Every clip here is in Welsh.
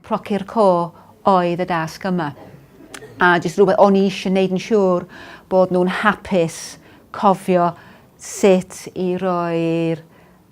Procyr Co oedd y dasg yma. A jyst rhywbeth o'n i eisiau gwneud yn siŵr bod nhw'n hapus cofio sut i roi'r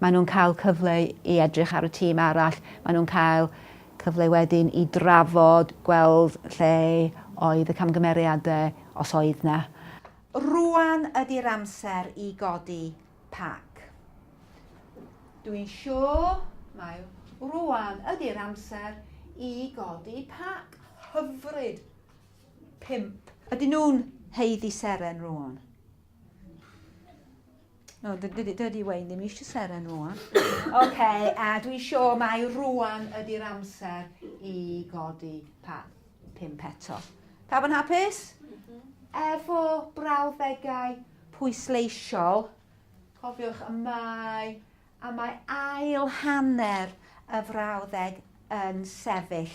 Maen nhw'n cael cyfle i edrych ar y tîm arall, maen nhw'n cael cyfle wedyn i drafod, gweld lle oedd y camgymeriadau, os oedd 'na. Rŵan ydi'r amser i godi pac. Dw i'n siŵr mai rŵan ydi'r amser i godi pac. Hyfryd! Pump. Ydyn nhw'n haeddu seren rŵan? No, dydy Wayne ddim eisiau seren rwan. OK, a dwi'n siŵr mai rwan ydy'r amser i godi pa pimp eto. Pawb yn hapus? Mhm. Efo brawddegau pwysleisiol, cofiwch y mae A mae ail hanner y frawddeg yn sefyll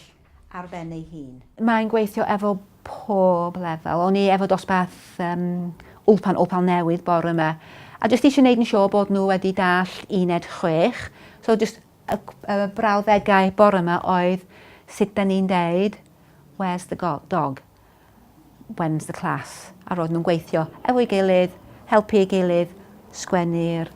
ar ben ei hun. Mae'n gweithio efo pob lefel. O'n i efo dosbarth um, Ulpan Opal Newydd bore yma. A jyst eisiau gwneud yn siŵr bod nhw wedi dallt uned chwech. So jyst y, y brawddegau bore yma oedd sut da ni'n deud, where's the dog? when's the class? a roedden nhw'n gweithio efo'i gilydd, helpu ei gilydd, sgwennu'r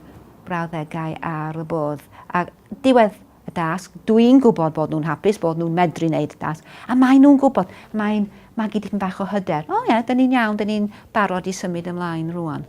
brawddegau ar y bwrdd. A diwedd y dasg, dwi'n gwybod bod nhw'n hapus, bod nhw'n medru wneud y dasg, a maen nhw'n gwybod, mae'n magu dipyn bach o hyder. O oh, ie, yeah, dyn ni'n iawn, dyn ni'n barod i symud ymlaen rwan.